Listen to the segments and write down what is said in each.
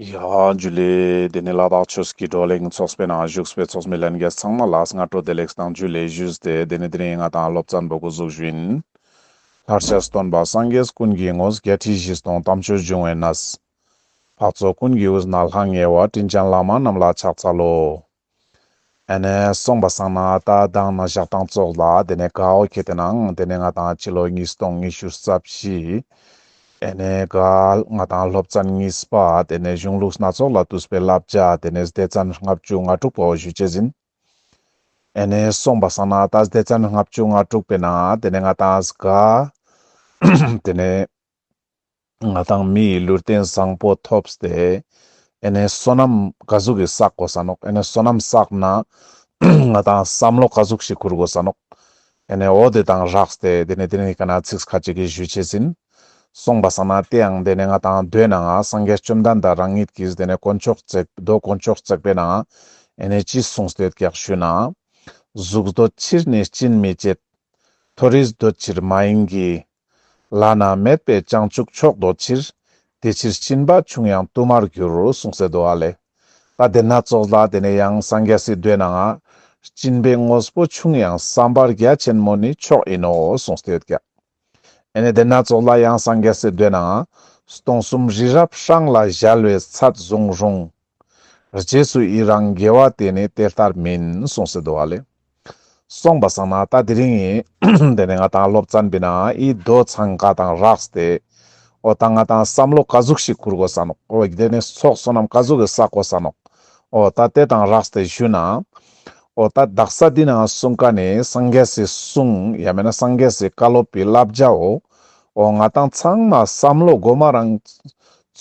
རྒྱུད་ལས། དེ་ནས་བླ་དྭགས་ཆོས་ཀྱི་བགྲོ་གླེང་འཚོགས་པའི་ནང་བཞུགས་སྤེལ་ཚོགས་མི་ལྷན་རྒྱས་ཚང་མ་ལ་སྔ་དྲོ་བདེ་ལེགས་དང་རྒྱུད་ལས་བཞུས་ཏེ་དེ་ནས་དེ་རིང་ང་དང་སློབ་ཙཱ་འབོ་དགུ་གཟུགས་བཞིན། ལྷར་ཆགས་སུ་སྟོན་པ་སངས་རྒྱས་ཀུན་གྱི་ངོ་བོ་བརྒྱད་ཁྲི་བཞི་སྟོང་དམ་ཆོས་འབྱུང་བའི་ན་བཟའ། འཕགས་ཚོགས་ཀུན་གྱི་དབུས་ན་ལྷང་ངེ་བ་སྤྲིན་ལྗང་ལག་དམར་རྣམས་ལ་ཕྱག་འཚལ་ལོ། ཨ་ནེ། སོང་པ་སང་ན་ད་གདང་ན་བཞག་དང་བཙོག་ལ་དེ་ནས་ག་འོ་ཁྱེད་དེ་ན་འང་དེ་ནས་ང་དང་ཕྱི་ལོ་ཉིས་སྟོང་ཉི་ཤུ་རྩ་བཞི། ཨེ་ནེ། གཱལ། ང་དང་སློབ་ཙན་གཉིས་པ་དེ་ནས་གཞུང་ལུགས་སྣ་ཚོགས་ལ་བཏུས་པའི་བསླབ་བྱ་དེ་ནས་སྡེ་ཙན་ལྔ་བཅུ་ང་དྲུག་པའོ་ཞུས་བྱེད་ཟིན། ཨེ་ནེ། སོང་པ་སང་ན་ད་སྡེ་ཙན་ལྔ་བཅུ་ང་དྲུག་པའི་ན་དེ་ནས་ང་དང་གཱལ། དེ་ནས། ང་དང་མི་ཡི་ལུས་རྟེན་བཟང་པོ་ཐོབ་སྟེ། ཨེ་ནས་བསོད་ནམས་དགའ་གཟུགས་ཀྱི་བསགས་དགོ་ས་ནོག་ཨེ་ནས་བསོད་ནམས་བསགས་ན། ང་དང་བསམ་བློ་དགའ་གཟུགས་ཤིག་འཁུར་དགོ་ས་ནོག་ཨེ་ནས་འོ་དེ་དང་རགས་སྟེ་དེ་ནས་དེ་ནས་ཀ་ན་ཚིགས་ཁ་ཅིག་གིས་ཞུས་བྱས་ཟིན། སོང་པ་ས་ན་དེའང་དེ་ནས་ང་དང་སྡོད་ན་ང་སངས་རྒྱས་བཅོམ་ལྡན་འདས་རང་ཉིད་ཀྱིས་དེ་ནས་དཀོན་མཆོག་བརྩེགས་རྡོ་དཀོན་མཆོག་བརྩེགས་པས་ན་ཨེ་ནས་ཅི་གསུངས་སྟེ་ཀྱག་ཞུས་ན། གཟུགས་རྡོ་ཕྱིར་ནི་སྤྱིན་མི་བྱེད། མཐོ་རིས་རྡོ་ཕྱིར་མ་ཡིན་གྱི། བླ་ན་མེད་པའི་བྱང་ཆུབ་མཆོག་འདོད་ཕྱིར། དེ་ཕྱིར་བྱིན་པ་ཆུང་ཡང་བསྟུད་མར་གྱུར་རོ་གསུང་སའི་མདོ་ལ། ད་དེ་སྣ་ཚོགས་ལ་དེ་ནས་ཡང་སངས་རྒྱ་སྲིད་འདོད་ན་འང། བྱིན་པའི་དངོས་པོ་ཆུང་ཡང་བསམ་པར་རྒྱ་ཆེན་མོ་ནི་མཆོག་ཡིན་ནོ་གསུང་སྟེ་ཀྱེ། ཨེ་ནས་དེ་སྣ་ཚོགས་ལ་ཡང་སངས་རྒྱ་སྲིད་འདོད་ན་འང། སྟོང་གསུམ་རི་རབ་ཧྲང་ལ་བཞལ་བའི་ཚད་བཟུང་རུང། རྗེས་སུ་ཡི་རང་དགེ་བ་དེ་ནི་དེ་ལྟར་མིན་གསུངས་སེ་དོ་ཨ་ལེ། སོང་པ་བསམ་ན་ད་དེ་རིང་ཡིན། དེ་ནས་ང་དང་སློབ་ཙཱ་འབི་ན་ཡིས་རྡོ་ཚང་འགའ་དང་རགས་ཏེ། ཨོ་ད་ང་དང་བསམ་བློ་ག་ཟུག་ཞིག་འཁུར་དགོས་ས་ནོག་ཨོ་དེ་ནས་ཚོགས་བསོད་ནམས་ག་ཟུག་གི་བསག་དགོས་ས་ནོག་ཨོ་ད་དེ་དང་རགས་ཏེ་བཞུད་ན། ཨོ་ད་བདག་ས་འདི་ན་གསུང་ཀ་ནི་སངས་རྒྱས་སི་གསུང་ཡ་མེད་ན་སངས་རྒྱས་སི་བཀའ་སློབ་པི་བསླབ་བྱའོ། ཨོ་ང་དང་ཚང་མ་བསམ་བློ་སྒོ་མ་རང།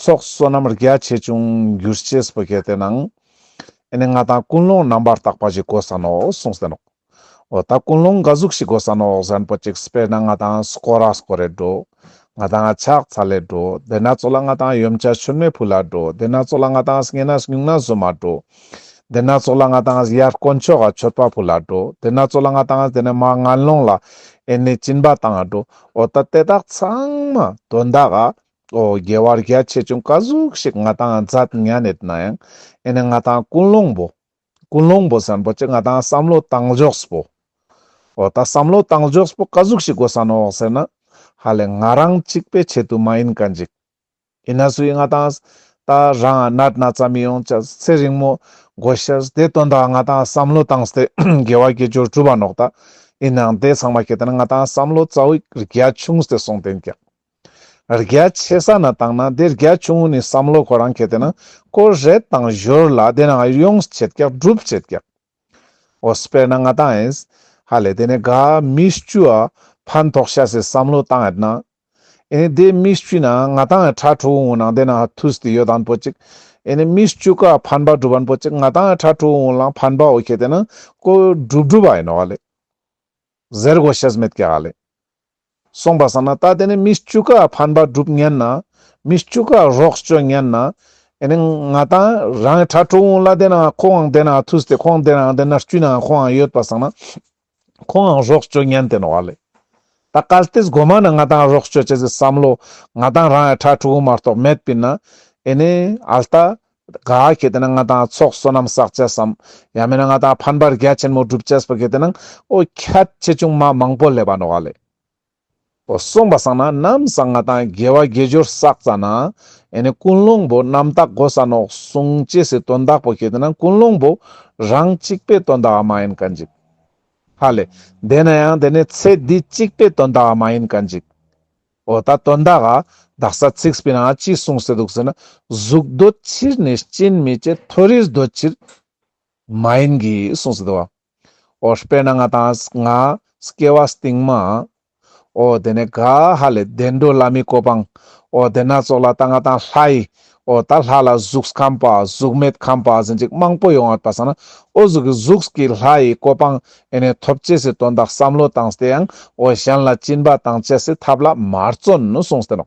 ཚོགས་བསོད་ནམས་རྒྱ་ཆེ་ཆུང་འགྱུར་སྤྱིས་བོད་སྐད་དེ་ནང་ཨེ་ནས་ང་དང་ཀུན་སློང་རྣམ་པར་དག་པ་ཞིག་དགོས་ས་ནོ་གསུངས་ཟེར་ནོ། འོ་ད་ཀུན་སློང་འགའ་གཟུགས་ཤིག་དགོས་ས་ནོ་གཟན་པོ་ཅིག་སྤེལ་ན་ང་དང་སྐོ་ར་སྐོ་རས་འགྲོ། ང་དང་ཕྱག་ཚ་ལས་འགྲོ་དེ་ན་ཚོ་ལ་ང་དང་ཡུམ་བྱ་ཕྱུར་མའི་བུ་ལ་འགྲོ་དེ་ན་ཚོ་ལ་ང་དང་སྙན་ན་སྙུག་ན་བཟོད་མ་འགྲོ། དེ་ན་ཚོ་ལ་ང་དང་ཡར་དཀོན་མཆོག་ག་ཆོད་པ་བུ་ལ་འགྲོ་དེ་ན་ཚོ་ལ་ང་དང་དེ་ནས་མ་ང་སློང་ལ་ཨེ་ནས་བྱིན་པ་དང་འགྲོ་འོ་ད་དེ་དག་ཚང་མ་དོན་དག་ག་ཨོ་རྒྱལ་བ་རྒྱ་ཆེ་ཆུང་བཀའ་ཟུར་ཞིག་ང་དང་མཛད་མྱ་ནད་ན་ཡང་ཨེ་ནས་ང་དང་ཀུན་སློང་པོ། ཀུན་སློང་པོ་ཟེར་འབོ་ཅི་ང་དང་བསམ་བློ་བཏང་འཇོགས་པོ། ཨོ་ད་བསམ་བློ་བཏང་འཇོགས་པོ་བཀའ་ཟུར་ཞིག་དགོས་ས་ནོག་ཟེར་ན། ཧ་ལས་ང་རང་གཅིག་པའི་ཆེད་དུ་མ་ཡིན་ག་འཇིག། ཡིན་ན་སུ་ཡིན་ང་དང་ད་རང་ཨ་ནད་ན་ཙམ་ཡོང་ཅག་ཚེ་རིང་མོ་དགོས་ཤག་བདེ་དོན་དག་ང་དང་བསམ་བློ་བཏང་སྟེ་རྒྱལ་བ་དགེ་སྦྱོར་གྲུབ་པ་ནོག་ད་ཡིན་ནའང་དེ་ཚང་མ་ཁྱེད་དང་ང་དང་བསམ་བློ་རྩ་བའི་རྒྱ་ཆུང་སྟེ་སོང་དེ་འགྱག། རྒྱ་ཆེ་ས་ན་བཏང་ན་དེ་རྒྱ་ཆུང་ངུ་ནས་བསམ་བློ་ཁོ་རང་གི་དེ་ན་ཀོ་རེད་དང་བཞོར་ལ་དེ་ན་ཨ་ཡོངས་ཆེད་རྒྱག་སྒྲུབ་ཆེད་རྒྱག་འོ་སྤེར་ན་ང་དང་ཨེས་ཧ་ལས་དེ་ནས་དགའ་མི་སྐྱུ་ཨ་ཕར་འཐོག་ཤ་ཟེར་བསམ་བློ་བཏང་ཨེ་ན་ཨེ་ནས་དེ་མི་སྐྱུ་ན་ང་དང་ཨེ་ཁྲ་ཁྲོ་འུ་ནང་དེ་ན་ཐུས་དེ་ཡོད་དང་པོ་ཅིག་ཨེ་ནས་མི་སྐྱུ་ཀ་ཕན་པ་སྒྲུབ་ཨན་པོ་ཅིག་ང་དང་ཨེ་ཁྲ་ཁྲོ་འུ་ལང་ཕན་པ་འོ་ཁེ་དེ་ན་ཀོ་སྒྲུབ་སྒྲུབ་ཨེ་ནོ་ཨ་ལས། གཟེར་སྒོ་ཤེས་མེད་ཀྱི་ཨ་ལས། གསུངས་པ་བསམ་ན་ལྟ་དེ་ནི་མི་བཅུ་ཀ་ཕན་པ་སྒྲུབ་ཉན་ན། མི་བཅུ་ཀ་རོགས་སྐྱོ་ཉན་ན། ཨེ་ནི་ང་དང་རང་གི་ཁྲ་ཁྲོ་འུ་ལ་དེ་ནའང་ཁོའང་དེ་ནའང་ཐུགས་དེ་ཁོང་དེ་ནའང་དེ་ནར་དཀྱུས་ནའང་ཁོའང་ཡོད་པར་བསམ་ན། ཁོའང་རོགས་སྐྱོ་ཉན་དེ་ནོ་ཨ་ལས། ད་གལ་ཏེ་སྒོ་མ་ནི་ང་དང་རོགས་སྐྱོ་བྱེད་ཟེར་བསམ་ལོ། ང་དང་རང་གི་ཁྲ་ཁྲོ་འུ་མ་གཏོགས་མེད་པས་ན། ཨེ་ནི་ཨ་ལྟ། ག་གལ་ཏེ་ན་ང་དང་ཚོགས་བསོད་ནམས་བསགས་བྱས་སམ། ཡང་མིན་ན་ང་དང་ཕན་པར་རྒྱལ་ཆེན་མོ་བསྒྲུབ་བྱས་པར་གལ་ཏེ་ན་ཨོ་ཁྱད་ཆེ་ཆུང་མ་མང་པོ་ལས་པ་ནོ་ག་ལས། ཨོ་གསུངས་པ་བསགས་ན་ནམ་བསགས་ང་དང་རྒྱལ་བ་དགེ་སྦྱོར་བསགས་ཙྪ་ན། ཡང་ནི་ཀུན་སློང་བུ་རྣམ་དག་གོ་ས་ནོ་གསུངས་ཅེས་སའི་དོན་དག་པོ་གལ་ཏེ་ན་ཀུན་སློང་བུ་རང་གཅིག་པའི་དོན་དག་བ་མ་ཡིན་ག་འཇིག། ཧ་ལས། དེས་ན་ཡང་དེ་ནི་ཚེ་འདི་གཅིག་པའི་དོན་དག་བ་མ་ཡིན་ག་འཇིག། འོ་ད་དོན་དག་ག་དག་ས་ཚིགས་པས་ན་ཅི་གསུངས་ཟེར་འདུག་ཟེར་ན་གཟུགས་སྡོད་ཕྱིར་ནི་སྐྱེད་མི་སྐྱེད་མཐོ་རིས་སྡོད་ཕྱིར་མ་ཡིན་གྱི་གསུངས་ཟེར་འདུག་བ། འོ་དཔེར་ན་ང་དང་ང་སྐྱེ་བ་སྟེང་མ། འོ་དེ་ནས་ག་ཧ་ལས་བདེ་འགྲོ་བླ་མའི་གོ་འཕང། འོ་དེ་སྣ་ཚོགས་ལ་ད་ང་དང་ལྷའི། ཨོ་ད་ལྷ་ལ་གཟུགས་ཁམས་པ་གཟུགས་མེད་ཁམས་པ་ཟིན་ཅིག་མང་པོ་ཡོང་བར་བལྟ་སོང་ན་ཨོ་གཟུགས་ཀྱི་གཟུགས་ཀྱི་ལྷ་ཡི་གོ་འཕང་ཨེ་ནས་ཐོབ་ཅེས་སི་དོན་དག་བསམ་བློ་བཏང་སྟེ་ཡང་ཨོ་གཞན་ལ་བཅིན་པ་དང་བཅས་སི་ཐབས་ལ་མ་བརྩོན་ནོ་གསུངས་སྟེ་ནོ།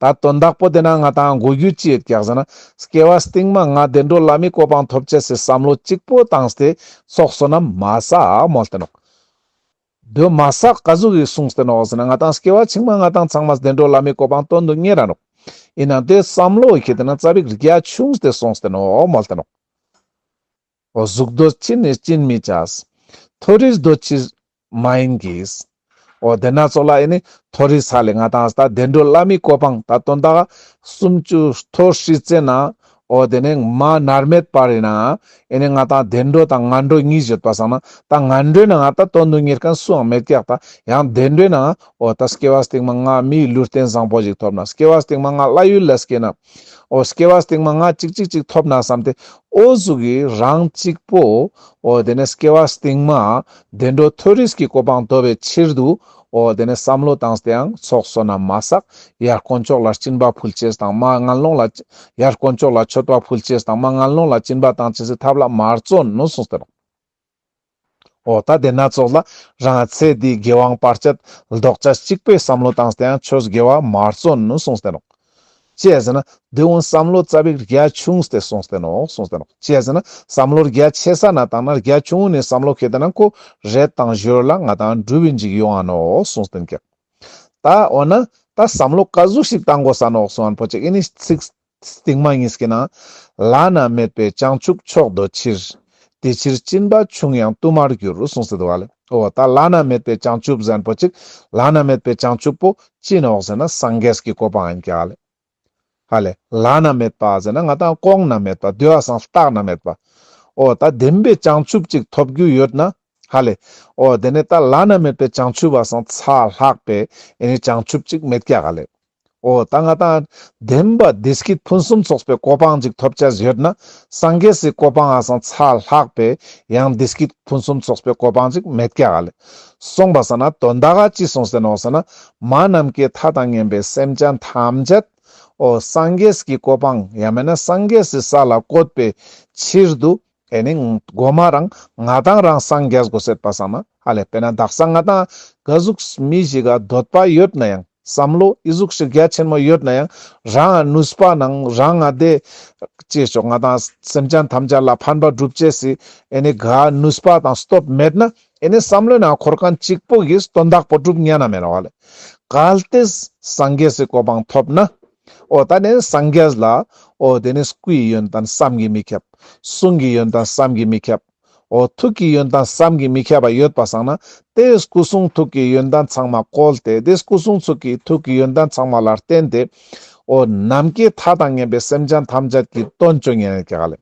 ད་དོན་དག་པོ་དེ་ན་ང་དང་དགོས་རྒྱུ་ཅི་ཡོད་ཀྱང་ཟེར་ན་སྐྱེ་བ་སྟིང་མ་ང་བདེ་འགྲོ་ལ་མི་གོ་འཕང་ཐོབ་ཅེས་སི་བསམ་བློ་གཅིག་པོ་བཏང་སྟེ་ཚོགས་སོ་ན་མ་བསམ་མོ་སྟེ་ནོ། གདོད་མ་ས་ག་གཟུགས་ཡིད་གསུངས་ཟེར་ནོ་ཟེར་ན་ང་དང་སྐྱེ་བ་ཕྱི་མ་ང་དང་ཚང་མ་བདེ་འགྲོ་བླ་མའི་གོ་འཕང་སྟོན་དུ་གཉེར་རན་རོགས། ཡིན་ནང་དེ་བསམ་བློ་ཡི་གེ་དེ་ན་རྩ་རིག་རྒྱ་ཆུང་ཟེར་སོང་ཟེར་ནོ་མོལ་ཏེ་རོགས། གཟུགས་རྡོ་ཕྱིར་ནི་བཅིན་མི་བྱ། མཐོ་རིས་རྡོ་ཕྱིར་མ་ཡིན་གྱིས། འོ་དེ་ན་ཚོ་ལ་ཨེ་ནི་མཐོ་རིས་ས་ལས་ང་དང་ད་བདེ་འགྲོ་བླ་མའི་གོ་འཕང་ད་སྟོན་ད་གསུམ་བཅུ་མཐོ་ཧྲིལ་བཙན་ན་ཨོ་དེ་ནས་མ་ནར་མེད་པར་ཡིན་ནའང་ཨེ་ནས་ང་དང་བདེ་འགྲོ་དང་ངན་འགྲོ་གཉིས་བརྗོད་པ་བསམ་ན་ད་ངན་འགྲོའི་ནའང་ད་དོན་དུ་གཉེར་མཁན་སུའང་མེད་ཀྱག་ད་ཡང་བདེ་འགྲོའི་ནའང་ཨོ་ད་སྐྱེ་བ་སྟེང་མ་ང་མིའི་ལུས་རྟེན་བཟང་པོ་ཞིག་ཐོབ་ན་སྐྱེ་བ་སྟེང་མ་ང་བླ་ཡུལ་ལ་སྐྱེས་ན་ཨོ་སྐྱེ་བ་སྟེང་མ་ང་ཅིག་ཅིག་ཅིག་ཐོབ་ན་བསམ་སྟེ་ཨོ་གཟུགས་ཡི་རང་གཅིག་པོ་ཨོ་དེ་ནས་སྐྱེ་བ་སྟེང་མ་བདེ་འགྲོ་མཐོལ་རིས་ཀྱི་གོ་འཕང་འདོད་པའི་ཕྱིར་དུ། ཨོ་དེ་ནས་བསམ་བློ་བཏང་སྟེའང་ཚོགས་བསོད་ནམས་མ་བསག་ཡར་དཀོན་མཆོག་ལ་བྱིན་པ་ཕུལ་ཅེས་དང་མ་དངངས་སློང་ལ། ཡར་དཀོན་མཆོག་ལ་མཆོད་པ་ཕུལ་ཅེས་དང་མ་དངངས་སློང་ལ་བྱིན་པ་དང་ཇི་སྲིད་ཐབས་ལ་མར་བརྩོན་ནོ་གསུངས་སྟེ། ཨོ་ད་དེ་ན་ཚོགས་ལ་རང་ཚེ་འདིའི་དགེ་དབང་སྤར་ཆེད་ལྡོག་ཆ་གཅིག་པའི་བསམ་བློ་བཏང་སྟེའང་ཆོས་དགེ་བ་མར་བརྩོན་ནོ་གསུངས་སྟེ། ཅེས་ཟེར་ན། དེ་འོན་བསམ་བློ་རྩ་བའི་རྒྱ་ཆུང་སྟེ་སོང་སྟེ་ནོ། སོང་སྟེ་ནོ། ཅེས་ཟེར་ན། བསམ་བློར་རྒྱ་ཆེ་ས་ན་བཏང་ན་རྒྱ་ཆུང་ངུ་ནས་བསམ་བློ་ཁེ་ཏེ་ན་ཁོ་རེ་དང་གཞོལ་ལ་ང་དང་འགྲུལ་བའི་འཇིགས་ཡོང་ཨ་ནོ། སོང་སྟེ་ཀྱེ། ད་འོ་ན། ད་བསམ་བློ་བཀའ་ཟུར་ཞིག་བཏང་དགོས་ས་ནོ་སོང་ཨན་ཕོ་ཅེ་ཨི་ནི་ཚིག། ཚིག་མ་ཡིན་སྐྱེ་ན། བླ་ན་མེད་པའི་བྱང་ཆུབ་མཆོག་འདོད་ཕྱིར། དེ་ཕྱིར་སྤྱིན་པ་ཆུང་ཡང་བསྟུད་མར་གྱུར་རོ་གསུངས་སྲིད། བ་ལོ། ད་བླ་ན་མེད་པའི་བྱང་ཆུབ་ཟན་པོ་གཅིག་བླ་ན་མེད་པའི་བྱང་ཆུབ་པོ་ཅི་ནོ་ཟེར་ན་སངས་རྒྱས་ཀྱི་བཀོད་པ་ཨན་ཀྱི་ཨ་ལས། ཧ་ལས། བླ་ན་མེད་པ་ཟེར་ན་ང་དང་ལྐོག་ན་མེད་པ་བདུད་ཨ་སངས་རྟགས་ན་མེད་པ། ཨོ་ད་བདེན་པའི་བྱང་ཆུབ་ཅིག་ཐོབ་རྒྱུ་ཡོད་ན། ཧ་ལས། ཨོ་དེ་ནས་ད་བླ་ན་མེད་པའི་བྱང་ཆུབ་ཨ་སངས་ཚ་ལྷག་པའི་ཨེ་ནི་བྱང་ཆུབ་ཅིག་མེད་ཀྱི་ཨ་ལས། ཨོ་ད་ང་དང་ལྡན་པ་འདིས་ཀྱིས་ཕུན་སུམ་ཚོགས་པའི་གོ་འཕང་ཅིག་ཐོབ་བྱ་ཡོད་ན་སངས་རྒྱས་སུའི་གོ་འཕང་ཧ་སང་ཚ་ལྷག་པས་ཡང་འདིས་ཀྱིས་ཕུན་སུམ་ཚོགས་པའི་གོ་འཕང་ཅིག་མེད་ཀྱ་ལེ། གསུངས་པ་ས་ན་དོན་དག་ཅི་གསུངས་ཟེར་ནོ་ཟེར་ན་མ་རྣམས་ཀྱི་མཐའ་དང་གཉེན་པའི་སེམས་ཅན་ཐམས་ཅད། ཨོ་སངས་རྒྱས་ཀྱི་གོ་འཕང་ཡང་མེད་ན་སངས་རྒྱས་སུའི་ས་ལ་བཀོད་པའི་ཕྱིར་དུ་དེ་ནི་སྒོ་མ་རང་ང་དང་རང་སངས་རྒྱས་སྒོ་ཟེར་པ་ཟ་མ་ཧ་ལས་པས་ན་བདག་སང་ང་དང་གི་གཟུགས་མི་ཞིག་ག་འདོད་པ་ཡོད་ན་ཡང་བསམ་བློ་ཡི་གཟུགས་ཞིག་རྒྱ་ཆེན་མོ་ཡོད་ན་ཡང་རང་ང་ནུས་པ་ནང་རང་ང་བདེ་སྐྱེད་ཆོག་ང་དང་སེམས་ཅན་ཐམས་ཅད་ལ་ཕན་པ་སྒྲུབ་བྱེད་སི་ཨེ་ནི་ག་ནུས་པ་དང་སྟོབས་མེད་ན་ཨེ་ནི་བསམ་བློའི་ནང་འཁོར་གང་གཅིག་པོ་གིས་དོན་དག་པོ་སྒྲུབ་ཉན་ན་མེད་ལ་ཧ་ལས་གལ་ཏེ་སངས་རྒྱས་སི་གོ་འཕང་ཐོབ་ན་འོ་ད་ནི་སངས་རྒྱས་ལ། འོ་དེ་ནི་སྐུ་ཡི་ཡོན་ཏན་བསམ་གྱིས་མི་ཁྱབ། གསུང་གི་ཡོན་ཏན་བསམ་གྱིས་མི་ཁྱབ། འོ་ཐུགས་ཀྱི་ཡོན་ཏན་བསམ་གྱིས་མི་ཁྱབ་པ་ཡོད་པར་བསམས་ན། དེས་སྐུ་གསུང་ཐུགས་ཀྱི་ཡོན་ཏན་ཚང་མ་བཀོལ་ཏེ་དེས་སྐུ་གསུང་ཐུགས་ཀྱི་ཐུགས་ཀྱི་ཡོན་ཏན་ཚང་མ་ལ་བརྟེན་ཏེ། འོ་ནམ་མཁའི་མཐའ་དང་མཉམ་པའི་སེམས་ཅན་ཐམས་ཅད་ཀྱི་དོན་བཅོ་ལྔའི་ལས་ཀྱི་ཧ་ལས།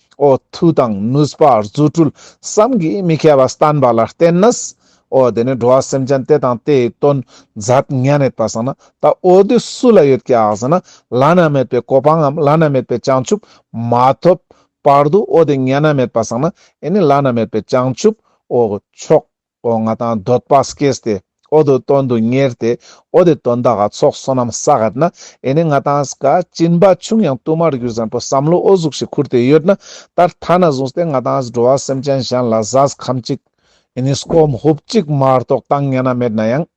འོ་ཐུག་དང་ནུས་པ་རྫུ་འཕྲུལ་བསམ་གྱིས་མི་ཁྱབ་པ་བསྟན་པ་ལ་བརྟེན་ནས། འོ་དེ་ནས་འགྲོ་བ་སེམས་ཅན་དེ་དང་དེའི་དོན་མཛད་ངས་མེད་པར་བསམ་ན་ད་འོ་དེ་སུ་ལ་ཡོད་ཀྱང་ཟེར་ན་བླ་ན་མེད་པའི་གོ་འཕང་ངམ་བླ་ན་མེད་པའི་བྱང་ཆུབ་མ་ཐོབ་བར་དུ་འོ་དེ་ངས་ན་མེད་པར་བསམ་ན་འོ་ནི་བླ་ན་མེད་པའི་བྱང་ཆུབ་འོ་མཆོག། སྒོ་ང་དང་སྡོད་པ་སྐྱེས་ཏེ་ཨོ་དོད་དོན་དུ་གཉེར་ཏེ་ཨོ་དེ་དོན་དག་ག་ཚོགས་བསོད་ནམས་བསགས་ཡོད་ན་ཨེ་ནི་ང་དང་ཀ་གཅིན་པ་ཆུང་ཡང་བསྟུད་མར་གྱུར་བཟང་པོའི་བསམ་བློ་ཨོ་གཟུགས་ཞིག་ཁུར་ཏེ་ཡོད་ན་ད་ལྟ་ན་བཟུང་སྟེ་ང་དང་འགྲོ་བ་སེམས་ཅན་གཞན་ལ་བཟའ་ཁམ་གཅིག་ཨེ་ནི་སྐོམ་ཧུབ་གཅིག་མ་གཏོགས་བཏང་སྙན་ན་མེད་ན་ཡང།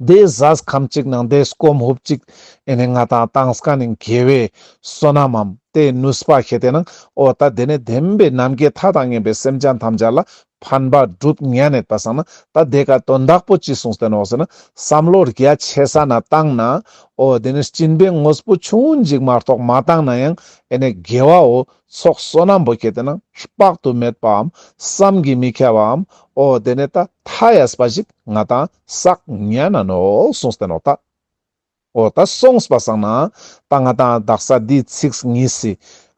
བནྡེ་གཟའ་ཁམས་གཅིག་ནང་བནྡེ་སྐོམ་ཧུབ་གཅིག་ཨེ་ནས་ང་དང་ཏང་སྐ་ནི་འགལ་བའི་བསོད་ནམས་འམ་དེ་ནུས་སྤ་ཤེས་དེ་ནང་ཨོ་ད་དེ་ནས་བདེན་པའི་ནམ་མཁའི་མཐའ་དང་གཉེན་པའི་སེམས་ཅན་ཐམས་ཅད་ལ་ཕན་པ་སྒྲུབ་ངེས་ནས་ད་སང་ན་ད་དེ་ག་དོན་དག་པོ་ཅི་གསུངས་བསྟན་འོག་ཟེར་ན་བསམ་བློ་རྒྱ་ཆེ་ས་ན་བཏང་ན་ཨོ་དེ་ནས་སྤྱིན་པའི་དངོས་སྤོ་ཆུང་ངུ་འཇིག་མ་རྟོགས་མ་བཏང་ན་ཡང་ཨེ་ནས་དགེ་བ་འོ་ཚོགས་བསོད་ནམས་པོ་ཁྱེད་དེ་ནང་དཔག་ཏུ་མེད་པའམ་བསམ་གྱིས་མི་ཁྱབ་པའམ་ཨོ་དེ་ནས་ད་མཐའ་ཡས་པ་ཞིག། ང་དང་སག་ཉན་ན་ནོ་གསུངས་ཏེ་ནོ་ད་ཨོ་ད་གསུངས་པ་སང་ན་ད་ང་དང་བདག་ས་འདིའི་ཚིགས་ངེས་སི་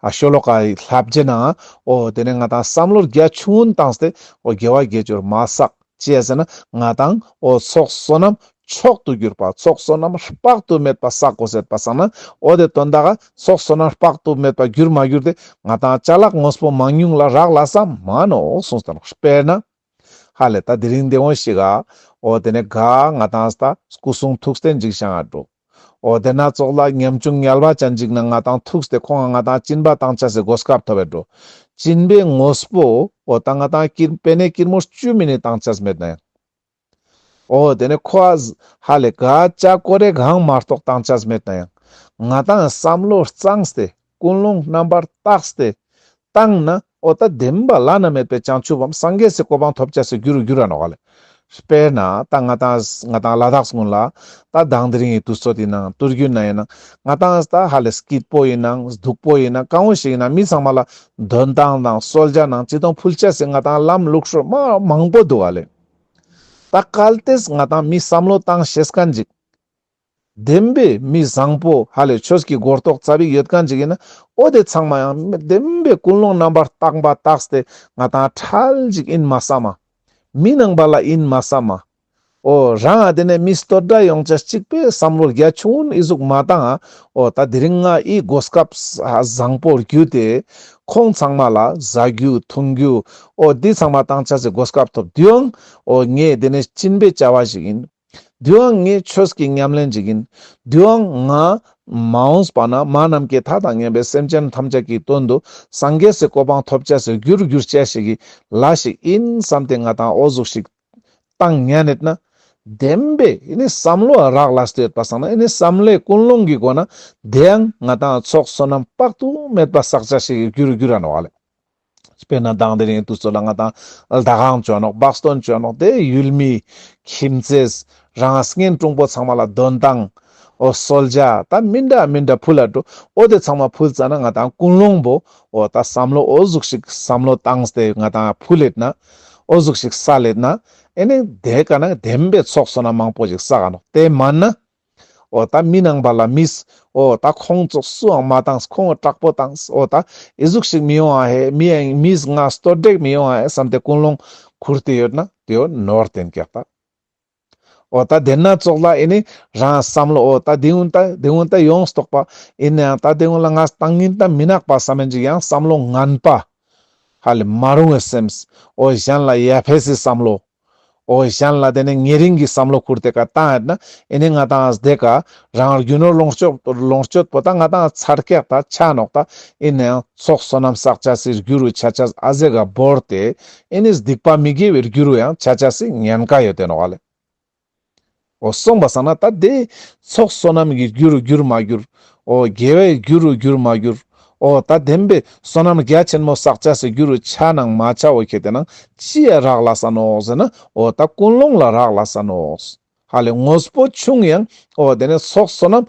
ཨ་ཤོ་ལོ་ཀ་ལྷ་བརྒྱད་ན་ཨོ་དེ་ནས་ང་དང་བསམ་བློར་རྒྱ་ཆུང་ངུ་བཏངས་ཏེ་ཨོ་རྒྱལ་བ་བརྒྱད་ཅུར་མ་སག་བཅད་ཟིན་ན་ང་དང་ཨོ་ཚོགས་བསོ་ནམས་མཆོག་ཏུ་གྱུར་པ་ཚོགས་བསོ་ནམས་དཔག་ཏུ་མེད་པ་སག་གོ་ཟེར་པ་སང་ན་ཨོ་དེ་དོན་དག་ཚོགས་བསོ་ནམས་དཔག་ཏུ་མེད་པ་གྱུར་མ་གྱུར་ཏེ་ང་དང་བྱ་གླག་དངོས་པོ་མང་ཉུང་ལ་རག་ལ་ས་མ་ནོ་གསུངས་ཏེ་ནོ་དཔེར་ན། ཧ་ལས་ད་དེ་རིང་འདི་འོང་ཞིག་ཨ། ཨོ་དེ་ནས་གཱ་ང་དང་ད་སྐུ་གསུང་ཐུགས་སྟེ་འཇིགས་བྱང་ཨ་འགྲོ། ཨོ་དེ་སྣ་ཚོགས་ལ་ཉམ་ཆུང་ཉལ་བ་བྱ་འཇིགས་ན་ང་དང་ཐུགས་སྟེ་ཁོང་ང་ང་དང་སྤྱིན་པ་དང་བྱ་ཟེ་སྒོ་སྐབས་ཐོ་བས་འགྲོ། སྤྱིན་པའི་ངོས་པོ་ཨོ་ད་ང་དང་སྐྱིར་པེ་ནས་སྐྱིར་མོ་བཅུ་མི་ནི་དང་བྱ་ཟེ་མེད་ན་ཡང། ཨོ་དེ་ནས་ཁོ་ཨ། ཧ་ལས་གཱ་ལྕགས་ཀོ་རེ་གང་མ་རྟོགས་དང་བྱ་ཟེ་མེད་ན་ཡང། ང་དང་བསམ་བློ་གཙང་སྟེ་ཀུན་སློང་རྣམ་པར་བརྟགས་སྟེ། བརྟགས་ན་ཨོ་ད་བདེན་པ་བླ་ན་མེད་པའི་བྱང་ཆུབ་བམ་སངས་རྒྱས་སུ་གོ་འཕང་ཐོབ་བྱ་སའི་རྒྱུ་རུ་འགྱུར་བ་ནོ། དཔེར་ན་ད་ང་དང་ང་དང་བླ་དྭགས་སུ་སྔོན་ལ་ད་བདག་འདི་རིང་ཡི་དུས་ཚོད་དེ་ན་དུར་རྒྱུན་ན་ཡིན་ན་ང་དང་ད་ཧ་ལས་སྐྱིད་པོ་ཡིན་ན་སྡུག་པོ་ཡིན་ན་གང་བོ་ཞིག་ཡིན་ན་མི་ཚང་མ་ལ་འདོན་སྟངས་དང་གསོལ་བྱ་ནང་ཅི་དང་ཕུལ་བྱ་སའི་ང་དང་ལམ་ལུགས་ཧྲུལ་མ་མང་པོ་འདུག་བ་ལས། ད་གལ་ཏེ་ང་དང་མི་བསམ་བློ་བཏང་ཤེས་ཀ་འཇིག། བདེན་པའི་མི་བཟང་པོ་ཧ་ལས་ཆོས་ཀྱི་སྒོར་རྟོགས་རྩ་བའི་ཡོད་གང་ཅིག་ཡིན་ན་ཨོ་དེ་ཚང་མ་ཡང་བདེན་པའི་ཀུན་སློང་རྣམ་པར་བརྟགས་པ་རྟགས་དེ་ང་དང་ཁྲལ་ཅིག་ཨིན་མ་བསམ་མ། མི་སྣང་བ་ལ་ཨིན་མ་བསམ་མ། ཨོ་རང་ཨ་དེ་ནས་མི་སྟོད་སྒྲ་ཡོངས་ཆ་གཅིག་པའི་བསམ་བློར་རྒྱ་ཆུང་ངུ་ནས་ཨི་གཟུགས་མ་དང་ཨ་ཨོ་ད་དེ་རིང་ང་ཨི་སྒོ་སྐབས་བཟང་པོར་རྒྱུ་དེ་ཁོང་ཚང་མ་ལ་བཟའ་རྒྱུ་འཐུང་རྒྱུ་ཨོ་དེ་ཚང་མ་བཏང་ཆ་ཚེ་སྒོ་སྐབས་ཐོབ་དུས་ཨང་ཨོ་ངས་དེ་ནས་སྤྱིན་པའི་བྱ་བ་ཞིག་ཨིན། དུས་ཨང་ངས་ཆོས་ཀྱི་ཉམས་ལེན་བྱེད་ཀྱིན། དུས་ཨང་ང། མ་འོངས་པ་ན་མ་རྣམས་ཀྱི་མཐའ་དང་གཉེན་པའི་སེམས་ཅན་ཐམས་ཅད་ཀྱི་དོན་དུ་སངས་རྒྱས་སུ་གོ་འཕང་ཐོབ་བྱ་སའི་རྒྱུར་གྱུར་བྱེད་ཞིག་གི་ལ་ཞིག་ཡིན་བསམ་སྟེ་ང་དང་ཨོ་གཟུགས་ཤིག། བཏང་ཉལ་ནས་ན། བདེན་པས་ནི་བསམ་བློ་རག་ལ་སྟེར་པ་སང་ན་ནི་བསམ་བློའི་ཀུན་སློང་གི་སྒོ་ན་བདེ་ཨང་ང་དང་ཚོགས་བསོད་ནམས་དཔག་ཏུ་མེད་པ་བསག་བྱ་ཞིག་གི་རྒྱུར་གྱུར་བ་ན་བ་ལས། དཔེར་ན་དྭངས་དེ་རིང་དུས་ཚོད་ལ་ང་དང་ལྡ་ཁང་བྱོན་ནོག་སྦག་སྟོན་བྱོན་ནོག་དེ་ཡུལ་མི། ཁྱིམ་མཚེས། རང་སྔན་ཀྲུང་གོ་ཚང་མ་ལ་གདོན་དང། ཨོ་སོལ་རྒྱ་ད་མི་འདྲ་མི་འདྲ་ཕུལ་ལ་འགྲོ་ཨོ་དེ་ཚང་མ་ཕུལ་ཙ་ན་ང་དང་ཀུན་སློང་བོ་ཨོ་ད་བསམ་བློ་ཨོ་གཟུགས་ཤིག་བསམ་བློ་བཏང་ཏེ་ང་དང་ཕུལ་ལེད་ན། ཨོ་གཟུགས་ཤིག་ས་ལེད་ན། ཨེ་ནི་དེ་ག་ན་བདེན་པའི་ཚོགས་སོ་ན་མང་པོ་ཞིག་ས་ག་ནོག་དེ་མ་ནི། ཨོ་ད་མི་ནང་པ་ལ་མིས་ཨོ་ད་ཁོང་ཚོགས་སུའང་མ་བཏང་ཁོང་སྐྲག་པོ་བཏང་ཨོ་ད་ཨེ་གཟུགས་ཤིག་མི་ཡོང་ཨ་ཧེ་མི་ཨེ་ཡིན་མིས་ང་སྟོད་བསྒྲེགས་མི་ཡོང་ཨ་ཧེ་བསམ་ཏེ་ཀུན་སློང་ཁུར་དེ་ཡོད་ན་དེ་ཡོད་ནོར་དེ་འགེགས་ད་ཨོ་ད་དེ་སྣ་ཚོགས་ལ་ཨེ་ནི་རང་བསམ་བློ་ཨོ་ད་དེ་ཡུན་ད་དེ་ཡུན་ད་ཡོངས་སུ་རྟོགས་པ་ཨེ་ནི་ཨ་ད་དེ་ཡུན་ལ་ང་བཏང་ཉིན་ད་མི་ནག་པ་བསམ་མི་འཇུག་ཡང་བསམ་བློ་ངན་པ་ཧ་ལས་མ་རུང་བས་སེམས་ཨོ་གཞན་ལ་ཡ་ཕེ་སི་བསམ་བློ། ཨོ་ཨེ་ཤན་ལ་དེ་ནས་ངའི་རིང་གི་བསམ་བློ་ཁུར་དེ་ག་ཏང་ཨེ་ན་ཨེ་ནས་ང་ཏང་ཨས་དེ་ག་རང་རྒྱུ་ནོར་ལོངས་སྤྱོད་ལོངས་སྤྱོད་པོ་ཏང་ང་ཏང་ཨས་ཚར་སྐྱག་ད་ཆ་ནོག་ད་ཨེ་ནའང་ཚོགས་སོ་ནམ་བསགས་ཆ་སིར་རྒྱུ་རུ་ཆ་ཆ་ཨ་ཟེ་ག་བོར་དེ་ཨེ་ནས་སྡིག་པ་མི་དགེ་བའི་རྒྱུ་རུ་ཡང་ཆ་ཆ་སི་ཉན་ག་ཡོད་དེ་ནོག་ཨ་ལེ། འོ་གསུངས་པ་ཟ་ན་ད་དེ། ཚོགས་བསོད་ནམས་ཀྱི་རྒྱུ་རུ་འགྱུར་མ་འགྱུར། འོ་དགེ་བའི་རྒྱུ་རུ་འགྱུར་མ་འགྱུར། འོ་ད་བདེན་པའི་བསོད་ནམས་རྒྱ་ཆེན་མོ་བསགས་བྱ་སའི་རྒྱུ་རུ་བྱ་ནང་མ་བྱའོ་ཁྱེད་དེ་ནང་ཅི་ཡ་རག་ལ་ས་ནོ་ཟེར་ན་འོ་ད་ཀུན་སློང་ལ་རག་ལ་ས་ནོ། ཧ་ལས་ངོ་སྤོ་ཆུང་ཡང་འོ་དེ་ནས་ཚོགས་བསོད་ནམས་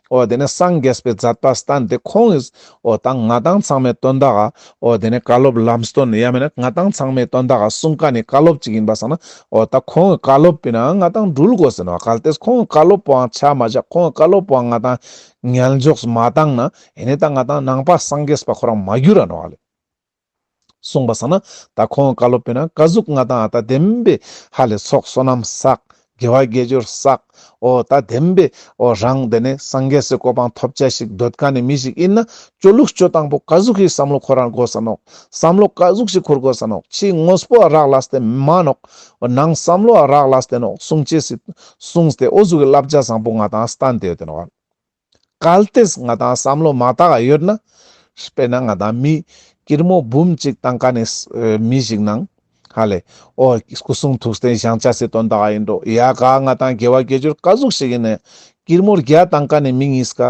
ཨོ་དེ་ནས་སངས་རྒྱས་པའི་ཛཱཏ་པཱ་སྟཱན་དེ་ཁོང་གིས་ཨོ་ད་ང་དང་ཚང་མས་སྟོན་ད་ག་ཨོ་དེ་ནས་བཀའ་སློབ་ལམ་སྟོན་ཡ་མེད་ན་ང་དང་ཚང་མས་སྟོན་ད་ག་གསུང་བཀའ་ནི་བཀའ་སློབ་ཅིག་ཡིན་པ་སང་ན་ཨོ་ད་ཁོང་གིས་བཀའ་སློབ་པི་ན་ང་དང་འགྲུལ་དགོས་ཟེར་ནོ་གལ་ཏེས་ཁོང་གིས་བཀའ་སློབ་པོའང་ཆ་མ་བཞག་ཁོང་གིས་བཀའ་སློབ་པོའང་ང་དང་ངལ་འཇོགས་སུ་མ་བཏང་ན་ཨེ་ནས་ད་ང་དང་ནང་པ་སངས་རྒྱས་པ་ཁོ་རང་མ་གྱུར་ར་ནོ་ག་ལས། གསུངས་པ་ཟ་ན་ད་ཁོང་བཀའ་སློབ་སྤེལ་ན་བཀའ་ཟུག་མངའ་ཐང་ཨ་སྟག་བདེན་པའི་ཧ་ལས་ཚོགས་བསོད་ནམས་བསགས། དགེ་བ་དགེ་སྦྱོར་བསགས། ཨོ་ད་བདེན་པའི་ཨོ་རང་དེ་ནས་སངས་རྒྱས་སུ་གོ་འཕང་ཐོབ་བྱ་ཞིག་འདོད་ག་ནས་མི་ཞིག་ཨིན་ན་ཅོ་ལུགས་སྤྱོད་དང་པོ་བཀའ་ཟུག་ཞིག་བསམ་བློ་འཁོར་རང་དགོས་ས་ནོག་བསམ་བློ་བཀའ་ཟུག་ཞིག་འཁོར་དགོས་ས་ནོག་ཕྱི་དངོས་པོ་ཨ་རག་ལ་སྟེ་མ་ནོག་ནང་བསམ་བློ་ཨ་རག་ལ་སྟེ་ནོག་གསུང་བྱས་སི་གསུངས་སྟེ་ཨོ་ཟུག་གི་བསླབ་བྱ་བཟང་པོ་མངའ་ཐང་ཨ་སྟག་འདེའུ་དེ་ནོག། གལ་ཏེ་ང་དང་བསམ་བློ་མ་དག་ཡོད་ན། དཔེར་ན་ང་དང་མི་སྐྱིར་མོ་འབུམ་གཅིག་དང་ཀ་ནས་མི་ཞིག་ནང། ཧ་ལས། ཨོ། སྐུ་གསུང་ཐུགས་རྟེན་བཞེངས་བྱ་སྲིད་དོན་དག་ཡིན་འགྲོ། ཡ་ག་ང་དང་དགེ་བ་དགེ་སྦྱོར་དཀའ་གཟུགས་ཤིག་ཡིན་ནའི། སྐྱིར་མོར་བརྒྱ་དང་ཀ་ནས་མི་གཉིས་ཀ།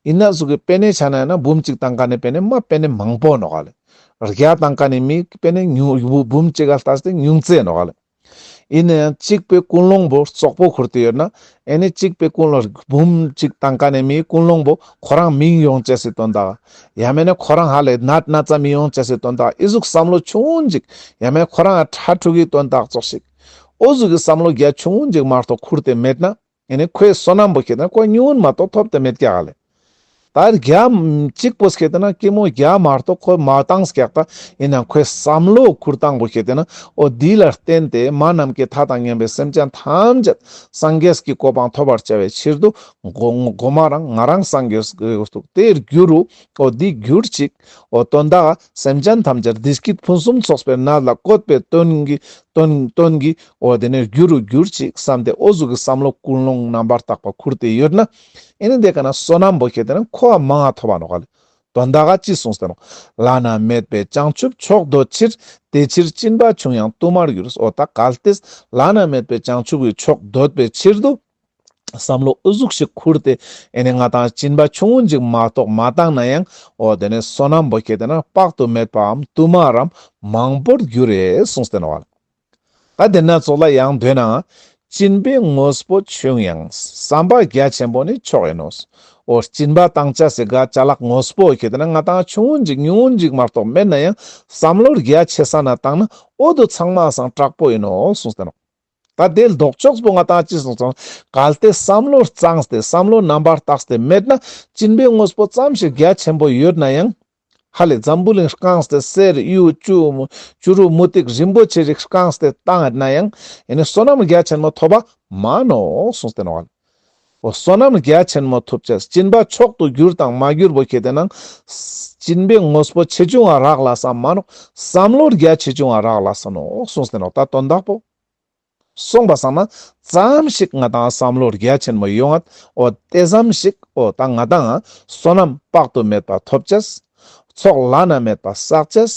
ཡིན་ན་གཟུགས་ཀྱི་དཔེ་ནས་ཆ་ན་ཡང་ན་འབུམ་གཅིག་དང་ཀ་ནས་དཔེ་ནས་མ་དཔེ་ནས་མང་པོ་འགྲོ། ཧ་ལས། བརྒྱ་དང་ཀ་ནས་མི་དཔེ་ནས་ཉུང་འབུམ་གཅིག་ཨ་ལྟ་སྟེ་ཉུང་བརྩེགས་འགྲོ། ཧ་ལས། ཡིན་ན་ཡང་གཅིག་པའི་ཀུན་སློང་བུ་ཙོག་པོ་ཁུར་དུ་ཡོད་ན་ཨེ་ནས་གཅིག་པའི་ཀུན་སློང་རིགས་འབུམ་གཅིག་བཏང་ཀ་ནས་མིའི་ཀུན་སློང་བུ་ཁོ་རང་མིང་ཡོང་བྱས་སི་དོན་དག་ཡ་མེད་ན་ཁོ་རང་ཧ་ལས་ནད་ན་ཙམ་མིང་ཡོང་བྱས་སི་དོན་དག་ཨི་གཟུགས་བསམ་བློ་ཆུང་ངུ་འཇིག་ཡ་མེད་ཁོ་རང་ཧ་ཁྲ་ཁྲུ་གིས་དོན་དག་ཙོག་ཤིག་ཨོ་གཟུགས་ཀྱི་བསམ་བློ་རྒྱ་ཆུང་ངུ་འཇིག་མ་རྟོགས་ཁུར་དེ་མེད་ན། ཡང་ན་ཁོའི་བསོད་ནམས་པོ་ཁེལ་ཏེ་ན་ཁོ་ཉུང་མ་གཏོགས་ཐོབ་ཏུ་མེད་ཀྱ་ལ། ད་རྒྱ། གཅིག་པོ་ཁེལ་ཏེ་ན་སྐྱེ་མོ་རྒྱ་མ་གཏོགས་ཁོའི་མ་བཏང་སྐྱག་ད་ཡིན་ན་ཁོའི་བསམ་བློ་ཁུར་སྟངས་པོ་ཁེལ་ཏེ་ན་འོ་དེ་ལ་བརྟེན་ཏེ་མ་རྣམས་ཀྱི་མཐའ་དང་གཉེན་པའི་སེམས་ཅན་ཐམས་ཅད་སངས་རྒྱས་ཀྱི་གོ་འཕང་ཐོབ་པར་བྱ་བའི་ཕྱིར་དུ་སྒོ་མ་རང་ང་རང་སངས་རྒྱས་སུ་དེ་རྒྱུ་རུ་འོ་དེ་གྱུར་ཅིག་འོ་དོན་དག། སེམས་ཅན་ཐམས་ཅད་བདེ་སྐྱིད་ཕུན་སུམ་ཚོགས་པའི་མནལ་ལ་བཀོད་པའི་དོན་གྱིས། འོ་དེ་ནས་རྒྱུ་རུ་གྱུར་ཅིག་བསམ་སྟེ་ཨོ་གཟུགས་ཀྱི་བསམ་བློ་ཀུན་སློང་རྣམ་པར་དག་པ་ཁུར་ཏེ་ཡོད་ན། ཨེ་ནི་འདི་ཀ་ན་བསོད་ནམས་བུ་ཁྱེད་དེ་ནས་འཁོར་བ་མན་ངག་ཐོབ་བ་ནོ། དོན་དག་ག་ཅི་གསུངས་ཟེར་ནོ། བླ་ན་མེད་པའི་བྱང་ཆུབ་མཆོག་འདོད་ཕྱིར། དེ་ཕྱིར་སྤྱིན་པ་ཆུང་ཡང་བསྟུད་མར་གྱུར། ཨོ་ད་ག་ལྟས། བླ་ན་མེད་པའི་བྱང་ཆུབ་ཀྱི་མཆོག་འདོད་པའི་ཕྱིར་དུ། བསམ་བློ་ཨུ་ཚུགས་ཤིག་ཁུར་ཏེ་ཨེ་ནས་ང་དང་གཅིན་པ་ཆུང་ངུ་འཇིག་མ་གཏོགས་མ་བཏང་ན་ཡང་འོ་དེ་ནས་སོ་ནམ་པོ་ཁྱེད་དེ་ན་དཔག་ཏུ་མེད་པའམ་བསྟུད་མར་རམ་མང་པོར་རྒྱུ་རེད་གསུངས་སྟེ་ནོ། ད་དེ་སྣ་ཚོགས་ལ་ཡང་འདོད་ནའང་གཅིན་པའི་དངོས་པོ་ཆུང་ཡང་བསམ་པ་རྒྱ་ཆེན་པོ་ནི་ཆོག་ཡིན་ནོ། འོ་གཅིན་པ་བཏང་བྱ་ཟེ་ག་བྱ་ལག་དངོས་པོ་ཁྱེད་དེ་ན་ང་དང་ཆུང་ངུ་འཇིག་ཉུང་ངུ་འཇིག་མ་གཏོགས་མེད་ན་ཡང་བསམ་བློ་རྒྱ་ཆེ་ས་ན་བཏང་ན་འོ་དུ་ཚང་མ་སངས་དྲག་པོ་ཡིན་ནོ་གསུངས་སྟེ་ནོ། ད་དེ་ལྡོག་ཕྱོགས་སུ་ང་དང་ཅི་སོང་ཙང་གལ་ཏེ་བསམ་བློར་གཙང་སྟེ་བསམ་བློ་རྣམ་པར་དག་སྟེ་མེད་ན་སྤྱིན་པའི་དངོས་པོ་ཙམ་ཞིག་རྒྱ་ཆེན་པོ་ཡོད་ན་ཡང། ཧ་ལས་འཛམ་བུ་གླིང་རྐང་སྟེ་གསེར་གཡུ་བྱུ་རུ་མུ་ཏིག་རིན་པོ་ཆེ་རིགས་རྐང་སྟེ་བཏང་ཡོད་ན་ཡང་ཡེ་ནས་བསོད་ནམས་རྒྱ་ཆེན་མོ་ཐོབ་པ་མ་ནོ་གསུངས་ཏེ་ནོར་བ། བསོད་ནམས་རྒྱ་ཆེན་མོ་ཐུབ་བྱས་སྦྱིན་པ་མཆོག་ཏུ་གྱུར་དང་མ་གྱུར་པོ་ཁྱེད་དེ་ན། སྦྱིན་པའི་དངོས་པོ་ཆེ་ཆུང་བ་རག་ལ་ས་མ་ནོ། བསམ་བློ་རྒྱ་ཆེ་ཆུང་བ་རག་ལ་ས་ནོ་གསུངས་ཟིན་རོགས་ད་དོན་དག་པོ། གསུངས་པ་བསམ་ན་ཙམ་ཞིག་ང་དང་བསམ་བློ་རྒྱ་ཆེན་མོ་ཡོང་ཨད་འོ་དེ་ཙམ་ཞིག་འོ་ད་ང་དང་བསོད་ནམས་དཔག་ཏུ་མེད་པ་ཐོབ་བྱས། ཚོགས་བླ་ན་མེད་པ་བསགས་བྱས།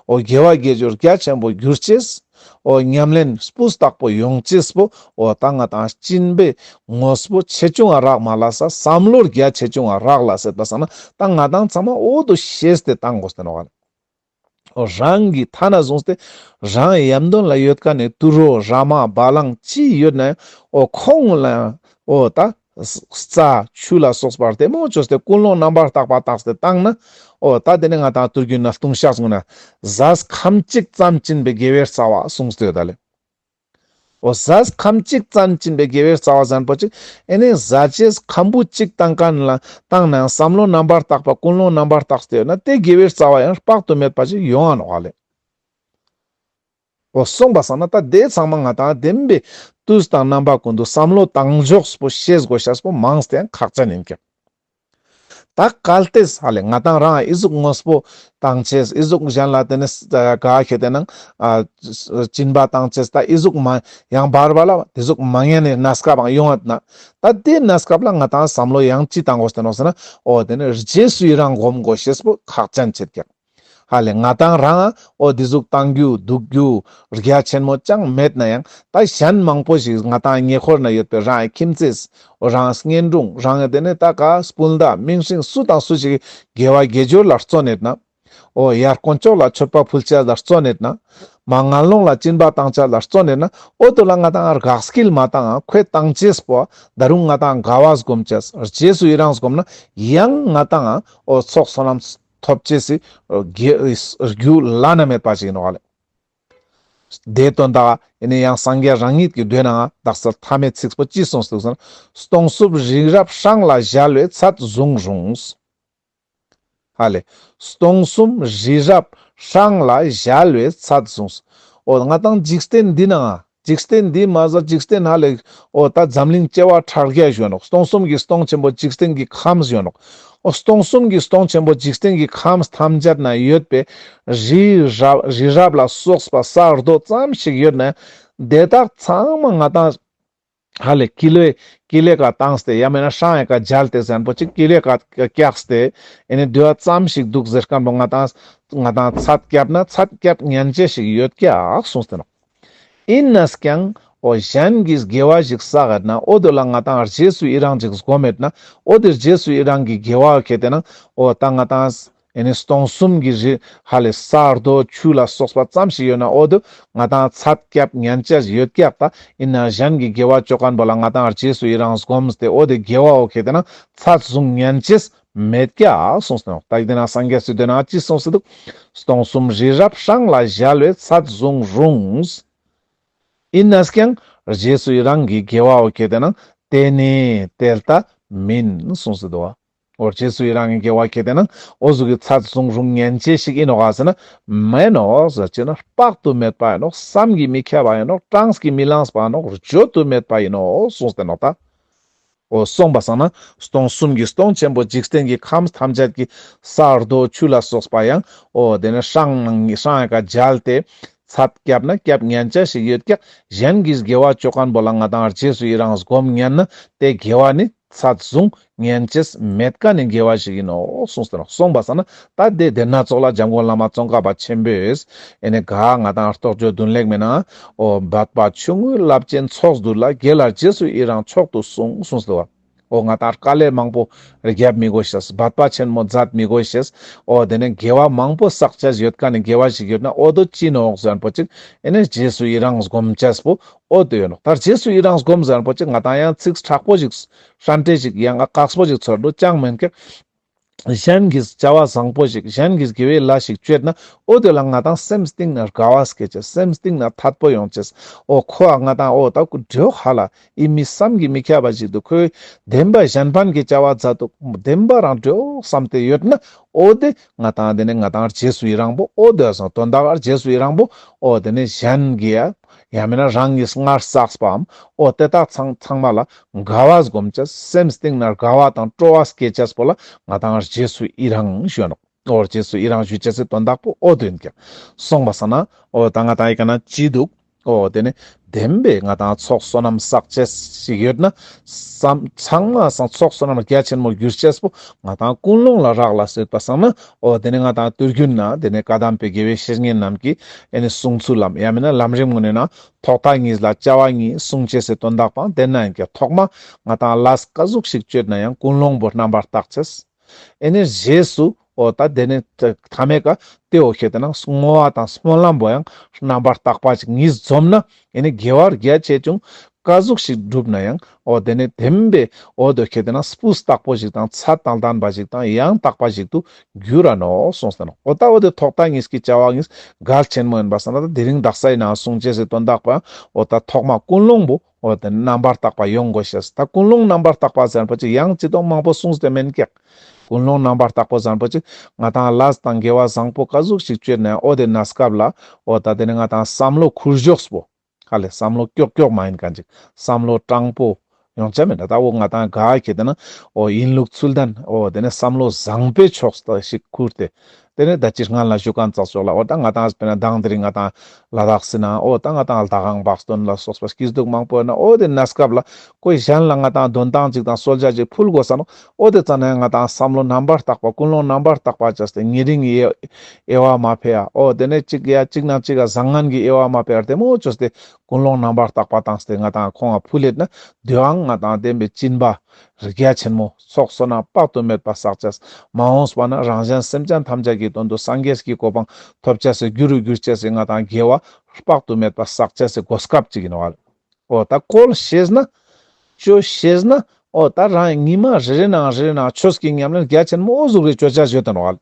ཨོ་རྒྱལ་བ་དགེ་སྦྱོར་རྒྱ་ཆེན་པོ་གྱུར་ཅིག། ཨོ་ཉམས་ལེན་སྤུ་རྟག་པོ་ཡོང་ཅིག། ཨོ་རྟ་རྔ་དང་སྤྱིན་པའི་ངོ་སྤུ་ཆེ་ཆུང་བ་རག་མ་ལ་ས་བསམ་བློར་རྒྱ་ཆེ་ཆུང་བ་རག་ལ་སེ་ད་ས་ན་རྟ་རྔ་དང་ཚང་མ་ཨོ་དུ་ཤེས་ཏེ་བཏང་གོ་སྟོན་བར། ཨོ་རང་གིས་ཐ་ན་བཟུང་སྟེ་རང་ཡབ་འདོན་ལ་ཡོད་ཀ་ནས་དུར་ཨོ་ར་མ་བ་ལང་ཅི་ཡོད་ན་ཡང་ཨོ་ཁོང་ལ་ཡང་ཨོ་རྟ་རྩ། ཆུ་ལ་སོགས་པར་ཐལ་མོ་བཅོས་སྟེ་ཀུན་སློང་རྣམ་པར་བརྟག་པ་བརྟགས་སྟེ་བརྟགས་ན། ཨོ། ད་དེ་ནས་ང་དང་བསྟོད་རྒྱུན་ན་ལྟུང་བཤགས་བསྲུང་ན། གཟའ་ཁམས་གཅིག་ཙམ་བཅིན་པའི་དགེ་བའི་རྩ་བ་གསུངས་སྟེ་ད་ལས། ཨོ། གཟའ་ཁམས་གཅིག་ཙམ་བཅིན་པའི་དགེ་བའི་རྩ་བ་བཟང་པོ་གཅིག། ཨེ་ནས་གཟའ་བཅས་ཁམ་བུ་གཅིག་བཏང་ཀ་ན་ལ་བཏང་ནའང་བསམ་བློ་རྣམ་པར་བརྟག་པ་ཀུན་སློང་རྣམ་པར་བརྟགས་སྟེ་ཡོད་ན་དེ་དགེ་བའི་རྩ་བ་ཡང་དཔག་ཏུ་མེད་པ་ཅིག་ཡོང་ཨ་ནོ་ཨ་ལས། པོ་གསུངས་པ་བསམ་ན་ད་དེ་ཚང་མ་ང་དང་ལྡན་པའི་དུས་དང་རྣམ་པ་ཀུན་ཏུ་བསམ་བློ་བཏང་ཕྱོགས་པོ་ཤེས་དགོས་ཤ་པོ་མང་སྟེ་ཡང་ཁག་ཅན་ཡིན་ཀྱང། ད་གལ་ལྟས་ས་ལས་ང་དང་རང་ཨི་གཟུགས་དངོས་པོ་དང་བཅས་ཨི་གཟུགས་གཞན་ལ་དེ་ནས་ག་ཤེད་དེ་ནང་བྱིན་པ་དང་བཅས་ད་ཨི་གཟུགས་མ་ཡང་བར་བ་ལ་དེ་གཟུགས་མ་ངན་ནས་ན་སྐབས་འང་ཡོང་ན་ད་དེ་ན་སྐབས་ལ་ང་དང་བསམ་བློ་ཡང་ཅི་བཏང་དགོས་ཟེར་ནོ་ཟེར་ན་ཨོ་དེ་ནས་རྗེས་སུ་ཡི་རང་བསྒོམ་དགོས་ཤེས་པོ་ཁག་ཅན་བྱེད་ཀྱང། ཧ་ལས་ང་དང་རང་འོ་དེ་གཟུགས་བཏང་རྒྱུ་སྡུག་རྒྱུ་རྒྱ་ཆེན་མོ་ཅང་མེད་ན་ཡང་ད་གཞན་མང་པོ་ཞིག་ང་དང་ཉེ་ཁོར་ན་ཡོད་པའི་རང་ཨེ་ཁྱིམ་མཚེས་འོ་རང་བརྙན་སྒྲུང་རང་དེ་ནས་ད་ག་སྤུན་ཟླ་མིང་སྲིང་སུ་དང་སུ་ཞིག་དགེ་བ་དགེ་སྦྱོར་ལ་བརྩོན་ནས་ན་འོ་ཡར་དཀོན་ཅོག་ལ་མཆོད་པ་ཕུལ་བྱ་ལ་བརྩོན་ནས་ན་མ་ང་ལོང་ལ་སྤྱིན་པ་བཏང་བྱ་ལ་བརྩོན་ནས་ན་འོ་དོ་ལ་ང་དང་རག་སྐྱིལ་མ་བཏང་ཁོས་བཏང་བྱས་པོ་ད་རུང་ང་དང་དགའ་བ་བསྒོམ་བྱ་རྗེས་སུ་ཡི་རངས་བསྒོམ་ན་ཡང་ང་དང་འོ་ཚོགས་སོ་ནམས་ཐོབ་བཅས་སུ་དགེ་བའི་རྒྱུ་བླ་ན་མེད་པ་ཞིག་ཡིན་ནོ། བླ་མའི་དོན་དག་ཡིན་ན་ཡང་སངས་རྒྱས་རང་ཉིད་ཀྱིས་འདོད་ནའང་བདག་སེལ་ཐ་མའི་ཚིགས་པོ་ཅི་གསུངས་ཟིག་ཟེར་ན། སྟོང་གཟུགས་རིགས་རབ་ཧྲང་ལ་གཞལ་བའི་ཚད་བཟུང་རུང། ཧ་ལས། སྟོང་གསུམ་རིགས་རབ་ཧྲང་ལ་གཞལ་བའི་ཚད་བཟུང། འོ་ན་ང་དང་འཇིག་རྟེན་འདི་ནའང་འཇིག་རྟེན་འདིའི་མ་གཟའ་འཇིག་རྟེན་ཧ་ལས། ཨོ་ད་འཛམ་གླིང་སྐྱེ་བ་ཕྲག་བརྒྱ་གཞོན་ནོ་སྟོང་གསུམ་གྱི་སྟོང་ཆེན་པོ་འཇིག་རྟེན་གྱི་ཁམས་གཞོན་ནོ། ཨོ་སྟོང་གསུམ་གྱི་སྟོང་ཆེན་པོ་འཇིག་རྟེན་གྱི་ཁམས་ཐམས་ཅད་ན་ཡོད་པའི་རི་རབ་རི་རབ་ལ་སོགས་པ་ས་རྡོ་ཙམ་ཞིག་ཡོད་ནས་དེ་དག་ཚང་མ་ང་དང། ཧ་ལས་ཀི་ལོས་ཀི་ལས་ཀ་བཏང་སྟེ་ཡང་མིན་ན་ཧྲང་ཧའེ་ཀ་རྒྱལ་དེ་གཟན་པོ་ཅིག་ཀི་ལོས་ཀ་བཀྱགས་སྟེ་ཨེ་ནས་བསྡུས་བ་ཙམ་ཞིག་འདུག་ཟེར་སྐམ་པོ་ང་དང། ང་དང་ཚ་བསྐྱབས་ན་ཚ་བསྐྱབས་ངན་བྱེད་ཞིག་ཡོད་ཀྱག་གསུངས་ཟིན་ནོ། ཡིན་ན་ཀྱང་ཨོ་གཞན་གྱི་དགེ་བ་ཞིག་བསགས་ཡོད་ན་ཨོ་དེ་ལ་ང་དང་རྗེས་སུ་ཡི་རང་ཅིག་བསྒོམ་མེད་ན་ཨོ་དེ་རྗེས་སུ་ཡི་རང་གི་དགེ་བ་གལ་ཏེ་ན་ཨོ་ད་ང་དང་སྟོང་གསུམ་གྱི་རི་ཧ་ལས་ས་རྡོ་ཆུ་ལ་སོགས་པ་ཙམ་ཞིག་ཡོད་ན་ཨོ་དེ་ང་དང་ཚ་སྐྱབས་མྱན་ཆད་ཡོད་སྐྱབས་ད་ཡིན་ན་གཞན་གྱི་དགེ་བ་ཅོ་ག་འབོ་ལ་ང་དང་རྗེས་སུ་ཡི་རང་བསྒོམས་ཏེ་ཨོ་དེ་དགེ་བའོ་གལ་ཏེ་ན་ཚ་བཟུང་མྱན་ཆད་མེད་ཀྱ། གསུངས་སོ། རྟགས་བདེན་ན་སངས་རྒྱས་སུ་འདོད་ན་ཅི་གསུངས་སུ་དུག། སྟོང་གསུམ་རི་རབ་ཧྲང་ལ་གཞལ་བའི་ཚད་བཟུང་རུང། ཡིན་ནས་ཀྱང། རྗེས་སུ་ཡི་རང་གིས་དགེ་བའོ་སྐྱེ་བསྟན་ན། དེ་ནི་དེ་ལྟ་མིན་གསུངས་སུ་དུའ། འོ་རྗེས་སུ་ཡི་རང་གིས་དགེ་བ་སྐྱེ་བསྟན་ན། འོ་གཟུགས་ཀྱི་ཚད་བཟུང་རུང་ངན་བྱེད་ཞིག་ཡིན་ནོ་ག་ཟེར་ན། མེད་ནོ། སྤྱིར་ན་དཔག་ཏུ་མེད་པ་ཡིན་ནོ་བསམ་གྱིས་མི་ཁྱབ་པ་ཡིན་ནོ་གྲངས་ཀྱིས་མི་ལངས་པ་ཡིན་ནོ་བརྗོད་དུ་མེད་པ་ཡིན་ནོ་གསུངས་སྟེ་ནོ་ད། འོ་གསུངས་པ་བསམ་ན་སྟོང་གསུམ་གྱི་སྟོང་ཆེན་པོ་འཇིག་རྟེན་གྱི་ཁམས་ཐམས་ཅད་ཀྱི་ས་རྡོ་ཆུ་ལ་སོགས་པ་ཡང་འོ་དེ་ནི་ཧྲང་ཧྲང་ཀ་རྒྱལ་ཏེ། ཚད་སྐྱབས་ན་སྐྱབས་ངན་ཅན་ཞིག་ཡོད་ཀྱང་གཞན་གྱིས་དགེ་བ་ཅོ་ག་འབོ་ལ་ང་དང་རྗེས་སུ་ཡི་རང་སྒོམ་ངན་ན་དེ་དགེ་བ་ནི་ཚད་བཟུང་ངན་ཅེས་མེད་ཀ་ནི་དགེ་བ་ཞིག་ཡིན་ནོ་གསུངས་སོ་གསུངས་པ་བསམ་ན་ད་ལྟའི་དེབ་སྣ་ཚོགས་ལ་འཇམ་མགོན་བླ་མ་ཙོང་ཁ་པ་ཆེན་པོས་ཨེ་ནས་ག་ང་དང་རྟོགས་བརྗོད་བདུན་ལེགས་མེད་ན། ཨོ་བདག་པ་ཆུང་ངུའི་རླབས་ཆེན་ཚོགས་འདུ་ལ་རྒྱལ་ལ་རྗེས་སུ་ཡི་རང་མཆོག་ཏུ་གསུངས་གསུངས་སོ། ཨོ་ང་དང་དཀའ་ལས་མང་པོ་རྒྱབ་མི་དགོས་ཤེས་བདག་པ་ཆེན་མོ་མཛད་མི་དགོས་ཤེས། ཨོ་དེ་ནས་དགེ་བ་མང་པོ་བསགས་བྱས་ཡོད་ཀ་ནས་དགེ་བ་ཞིག་ཡོད་ན་ཨོ་དུ་ཅི་ནོག་གཟན་པོ་ཅིག་ཨེ་ནས་རྗེས་སུ་ཡི་རང་སྒོམ་བྱེད་པོ་ཨོ་དུ་ཡོད་ནོག་ད་རྗེས་སུ་ཡི་རང་སྒོམ་གཟན་པོ་ཅིག་ང་དང་ཡང་ཚིགས་དྲག་པོ་ཞིག་ཧྲན་ཏེ་ཞིག་ཡང་ཨ་གགས་པོ་ཞིག་ཚོར་འདུག་ཅང་མི་འཁེལ། གཞན་གྱིས་བྱ་བ་བཟང་པོ་ཞིག་གཞན་གྱིས་དགེ་བའི་ལས་ཤིག་སྤྱོད་ན་ཨོ་དེ་ལ་ང་དང་སེམས་གཏིང་ནས་དགའ་བ་སྐྱེས་ཀྱི་སེམས་གཏིང་ན་འཐད་པོ་ཡང་སྐྱེས་ཨོ་ཁོ་བ་ང་དང་ཨོ་ད་ཀུ་འབྲོས་ཧ་ལ་ཨི་མི་བསམ་གྱི་མི་ཁྱབ་པ་ཞིག་འདུག་ཁོས་བདེན་པ་གཞན་ཕན་གྱི་བྱ་བ་མཛད་འདུག་བདེན་པ་རང་བྲོས་བསམ་དེ་ཡོད་ན་ཨོ་དེ་ང་དང་དེ་ནི་ང་དང་རྗེས་སུ་ཡི་རང་པོ་ཨོ་དེ་བཟང་དོན་དག་རྗེས་སུ་ཡི་རང་པོ་ཨོ་དེ་ནི་གཞན་གྱིས་ཡང་མིན་ན་རང་གིས་སྔར་བསགས་པའམ་འོ་དེ་དག་ཚང་ཚང་མ་ལ་དགའ་བ་བསྒོམ་བྱ་སེམས་གཏིང་ནས་དགའ་བ་དང་སྤྲོ་བ་སྐྱེས་བྱ་པོ་ལ་ང་དང་རྗེས་སུ་ཡི་རང་ཞུ། འོ་རྗེས་སུ་ཡི་རང་ཞུ་བྱེད་སའི་དོན་དག་པོ་འོ་དོན་གྱི་གསུངས་པ་ས་ན་འོ་ད་ང་དང་ཡི་ག་ན་ཅི་འདུག་འོ་དེ་ནས་བདེན་པའི་ང་དང་ཚོགས་བསོད་ནམས་བསགས་བྱ་ཞིག་ཡོད་ན་བསམ་ཚང་མ་བསང་ཚོགས་བསོད་ནམས་རྒྱ་ཆེན་མོ་བསྒྱུར་བྱ་པོ་ང་དང་ཀུན་སློང་ལ་རག་ལ་སྲིད་པ་ས་ན་ཨོ་དེ་ནས་ང་དང་བསྟོད་རྒྱུ་ནི་དེ་ནས་བཀའ་གདམས་པའི་དགེ་བའི་བཤེས་གཉེན་རྣམས་ཀྱིས་ཡེ་ནས་གསུངས་ཚུལ་ལམ་ཡང་མིན་ན་ལམ་རིམ་ངོ་ནས་ན་ཐོག་མཐའ་གཉིས་ལ་བཅའ་བ་གཉིས་གསུངས་བྱས་སའི་དོན་དག་དང་དེ་ན་ཡང་ཀྱང་ཐོག་མ་ང་དང་བླ་ས་བཀའ་ཟུག་ཞིག་སྤྱོད་ན་ཡང་ཀུན་སློང་པོ་རྣམ་པར་བརྟག་ཚེས། ཨེ་ནས་རྗེས་སུ་ཨོ་ད་དེ་ནས་ཐ་མའི་ཀ་ཏའི་ཨོ་ཤེས་དེ་ན་སྔོ་བ་དང་སྨོན་ལམ་པོ་ཡང་རྣམ་པར་བརྟག་པ་ཅིག་ཉིད་འཛོམ་ན་ཡིན་ནི་དགེ་བ་རྒྱ་ཆེ་ཆུང་དཀའ་གཟུགས་ཤིག་བསྒྲུབ་ན་ཡང་འོ་དེ་ནས་དེ་མིན་པའི་འོ་དོ་ཁྱེད་དེ་ན་སྤུ་སྟག་པོ་ཞིག་དང་ཚ་དང་དམ་པ་ཞིག་དང་ཡང་དག་པ་ཞིག་ཏུ་འགྱུར་ར་ནོ་གསུངས་ཟིན་ནོ་འོ་ད་འོ་དེ་ཐོག་ཐག་གཉིས་ཀྱི་བྱ་བ་གཉིས་གལ་ཆེན་མོ་ཡིན་པར་བསམ་ན་ད་དེ་རིང་བདག་སའི་ནང་གསུང་བྱེད་སའི་དོན་དག་པའང་འོ་ད་ཐོག་མ་ཀུན་སློང་པོ་འོ་དེ་ནི་རྣམ་པར་དག་པ་ཡོང་དགོས་ཞེས་ད་ཀུན་སློང་རྣམ་པར་དག་པ་ཟེར་བ་ཅིག་ཡང་ཅི་དང་མང་པོ་གསུངས་ཟིན་དེ་མིན་སྐད། ཀུན་སློང་རྣམ་པར་དག་པོ་བཟང་པོ་ཅིག་ང་དང་བླ་ཟ་དང་འགལ་བ་བཟང་པོ་དཀའ་ཟུག་ཞིག་བཅོས་ནས་ཨོ་དེ་ན་སྐབས་ལ་ཨོ་ད་དེ་ནི་ང་དང་བསམ་བློ་འཁུར་གཞོགས་སུ་བོ། ཧ་ལས་བསམ་བློ་ཀྱོག་ཀྱོག་མ་ཡིན་ག་འཇིག་བསམ་བློ་སྤྲང་པོ། ཡོང་ཆ་མེད་ད་ད་ཨོ་ང་དང་དགའ་ཁྱེད་དེ་ན་ཨོ་ཡིན་ལུགས་ཚུལ་ལྡན་ཨོ་དེ་ནས་བསམ་བློ་བཟང་པོའི་ཕྱོགས་སུ་ཞིག་འཁུར་ཏེ་དེ་ནས་ད་ཅིར་ང་ལ་བཞུགས་ཁང་བཙགས་ཆོག་ལ་འོ་ད་ང་དང་སྤེན་སྡང་དེ་རིང་ང་དང་ལ་དྭགས་སུ་སྣང་འོ་ད་ང་དང་ལ་དྭགས་ཨང་བགས་སྟོན་ལ་སོགས་པ་སྐྱིད་སྡུག་མང་པོ་གནང་འོ་དེ་ནས་སྐབས་ལ་ཁོས་གཞན་ལ་ང་དང་དོན་དག་ཅིག་དང་གསོལ་ཇ་ཅིག་ཕུལ་དགོས་བསམ་འོ་དེ་ཙམ་ནས་ང་དང་བསམ་བློ་རྣམ་པར་དག་པ་ཀུན་སློང་རྣམ་པར་དག་པ་བྱས་ཏེ་ཉེ་རིང་གི་དབྱེ་བ་མ་ཕེ་ཡ་འོ་དེ་ནས་གཅིག་ཡ་གཅིག་ནང་གཅིག་ག་བཟང་ངན་གྱི་དབྱེ་བ་མ་ཕེ་བར་དེ་མོ་བྱོས་ཏེ་ཀུན་སློང་རྣམ་པར་དག་པ་དང་སྟེ་ང་དང་ཁོང་ཨ་ཕུ་ལེད་ན་བདུད་ཨང་ང་དང་ལྡན་པའི་གཅིན་པ་རིགས་རྒྱ་ཆེན་མོ། ཚོགས་བསོད་ནམས་དཔག་ཏུ་མེད་པ་བསགས་བྱས། མ་འོངས་པ་ན་རང་གཞན་སེམས་ཅན་ཐམས་ཅད་ཀྱི་དོན་དུ་སངས་རྒྱས་ཀྱི་གོ་འཕང་ཐོབ་བྱས་སའི་རྒྱུ་རུ་གྱུར་བྱས་སའི་ང་དང་རྒྱལ་བ། དཔག་ཏུ་མེད་པ་བསགས་བྱས་སའི་གོ་སྐབས་ཅིག་ཡིན་ནོ། འོ་ད་ཀོལ་ཤེས་ན། བཅོལ་ཤེས་ན། འོ་ད་རང་ཉིད་མ་རེ་རེ་ནའང་རེ་རེ་ནའང་ཆོས་ཀྱི་ཉམས་ལེན་རྒྱ་ཆེན་མོ་འོ་གཟུགས་རེ་བཅོལ་བྱ་བཞེས་དོན་ནོ།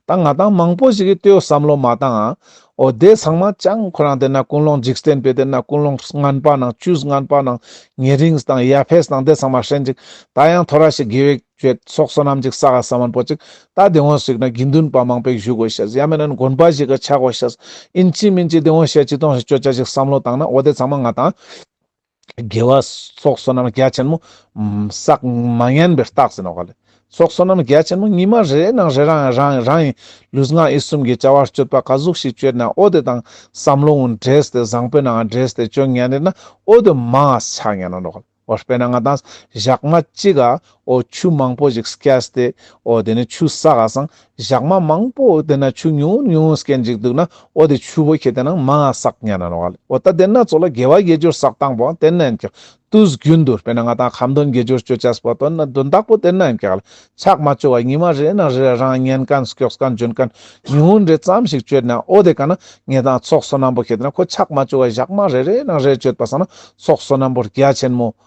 ད་ང་དང་མང་པོ་ཞིག་གིས་ལྟོས་བསམ་བློ་མ་བཏང་ཨང། འོ་དེ་ཚང་མ་ཅང་ཁོ་རང་དེ་ན་ཀུན་སློང་འཇིགས་རྟེན་པའི་དེ་ན་ཀུན་སློང་རྔན་པ་ནང་བཅུས་རྔན་པ་ནང་ཉེ་རིངས་དང་ཡ་ཕེས་ནང་དེ་ཚང་མ་ཧྲེན་ཅིག་ད་ཡང་ཐོ་ར་ཞིག་དགེ་བས་བྱོས་སོགས་བསོད་ནམས་ཅིག་ས་ག་ས་མོན་པོ་ཅིག་ད་དེ་ངོ་ཞིག་ན་དགེ་འདུན་པ་མང་པས་བཞུགས་དགོས་ཤེས་ཡ་མེན་ན་དགོན་པ་ཞིག་གི་ཆ་གོ་ཤེས་ཨིན་ཅི་མིན་ཅི་དེ་ངོ་ཤེས་ཅི་གཏོང་ཞིག་སྤྱོད་བྱ་ཞིག་བསམ་བློ་བཏང་ན་འོ་དེ་ཚང་མ་ང་དང། དགེ་བ་སོགས་བསོད་ནམས་རྒྱ་ཆེན་མོ། ཟག་མ་ངན་པའི་རྟགས་ཟེར་ནོ། ག་ལེ་སོགས་བསོད་ནམས་རྒྱ་ཆེན་མོ་ཉི་མ་རེའི་ནང་རེ་རང་རང་རང་ཡི་ལུས་ངག་ཡིད་གསུམ་གྱི་བྱ་བར་སྤྱོད་པ་ག་ཟུག་ཞིག་སྤྱོད་ན་ཨོ་དེ་དང་བསམ་བློ་འང་འདྲེས་ཏེ་བཟང་པོའི་ནའང་འདྲེས་ཏེ་སྤྱོད་ངན་རེ་ན་ཨོ་དེ་མའང་ཆགས་ངན་ནོ། ཨོ་དཔེར་ན་ང་དང་ཞག་མ་གཅིག་ག་འོ་ཆུ་མང་པོ་ཞིག་སྐྱེས་སྟེ། འོ་དེ་ནས་ཆུ་ཟ་ག་སང་བཞག་མ་མང་པོ་དེ་ན་ཆུ་ཉུང་ངུ་ཉུང་ངུ་སྐྱེས་འཇིག་འདུག་ན་འོ་དེ་ཆུ་བོ་ཁྱེད་དེ་ནང་མང་ང་སག་ཉན་ན་ནོ་ག་ལེ་འོ་ད་དེ་ན་ཚོ་ལ་དགེ་བ་དགེ་སྦྱོར་སག་དང་པོའང་དེ་ན་འཁྱག་དུས་རྒྱུན་དུ་དཔེར་ན་ང་དང་ཁམ་དོན་དགེ་སྦྱོར་སྤྱོད་བྱས་པ་དོན་ན་དོན་དག་པོ་དེ་ན་འཁྱག་ལ་ཆག་མ་སྤྱོད་བ་ཉི་མ་རེ་ན་རེ་རང་ཉན་གན་སྐྱོགས་གན་འཇོན་གན་ཉུང་ངུ་འདྲེ་ཙམ་ཞིག་སྤྱོད་ན་འོ་དེ་ག་ན་ངེད་དང་ཚོགས་སོ་ནམ་པོ་ཁྱེད་དེ་ན་ཁོ་ཆག་མ་སྤྱོད་བ་བཞག་མ་རེ་རེ་ན་རེ་སྤྱོད་པ་སང་ན་ཚོགས་སོ་ནམ་པོ་རྒྱ་ཆེན་མོ་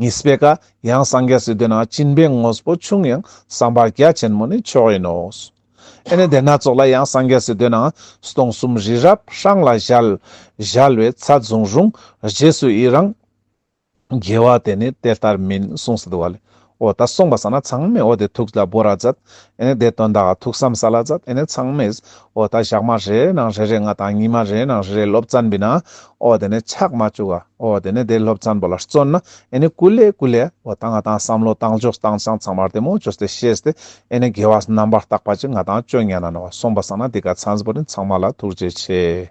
ཉི་སྤེ་ཀ། ཡང་སངས་རྒྱས་སུ་འདོད་ན་བྱིན་པའི་དངོས་པོ་ཆུང་ཡང་བསམ་པ་རྒྱ་ཆེན་མོ་ནི་མཆོག་ཡིན་ནོ། ཨེ་ནས་དེ་སྣ་ཚོགས་ལ་ཡང་སངས་རྒྱས་སུ་འདོད་ན་སྟོང་གསུམ་རི་རབ་ཧྲང་ལ་བཞལ། བཞལ་བའི་ཚད་བཟུང་རུང་རྗེས་སུ་ཡི་རང། རྒྱལ་བ་དེ་ནི་དེ་ལྟར་མིན་གསུངས་སུ་འདུག་བ་ལས་འོ་ད་གསུངས་པ་ས་ན་ཚང་མས་འོ་དེ་ཐུགས་ལ་བོར་ར་མཛད། ཨེ་ནས་དེ་དོན་དག་ཐུགས་བསམ་ས་ལ་མཛད་ཨེ་ནས་ཚང་མས། འོ་ད་ཞག་མ་རེ་རེ་ནང་རེ་རེ་ང་དང་ཉི་མ་རེའི་ནང་རེ་རེ་སློབ་ཙན་པི་ན། འོ་དེ་ནས་ཆགས་མ་བཅུག་ཨ། འོ་དེ་ནས་དེ་སློབ་ཙན་པོ་ལ་བརྩོན་ན་ཨེ་ནས་ཀུ་ལེ་ཀུ་ལེ། འོ་ད་ང་དང་བསམ་བློ་བཏང་ཆོག་བཏང་ཅང་ཚང་མར་དེ་མོ་ཅོས་དེ་ཤེས་ཏེ་ཨེ་ནས་དགེ་བ་རྣམ་པར་བརྟག་པ་ཅིག་ང་དང་བཅོ་ལྔས་ན་ནོ་གསུངས་པ་ས་ན་དེ་ག་ཚན་པོ་རིན་ཚང་མ་ལ་ཐུགས་རྗེ་ཆེ།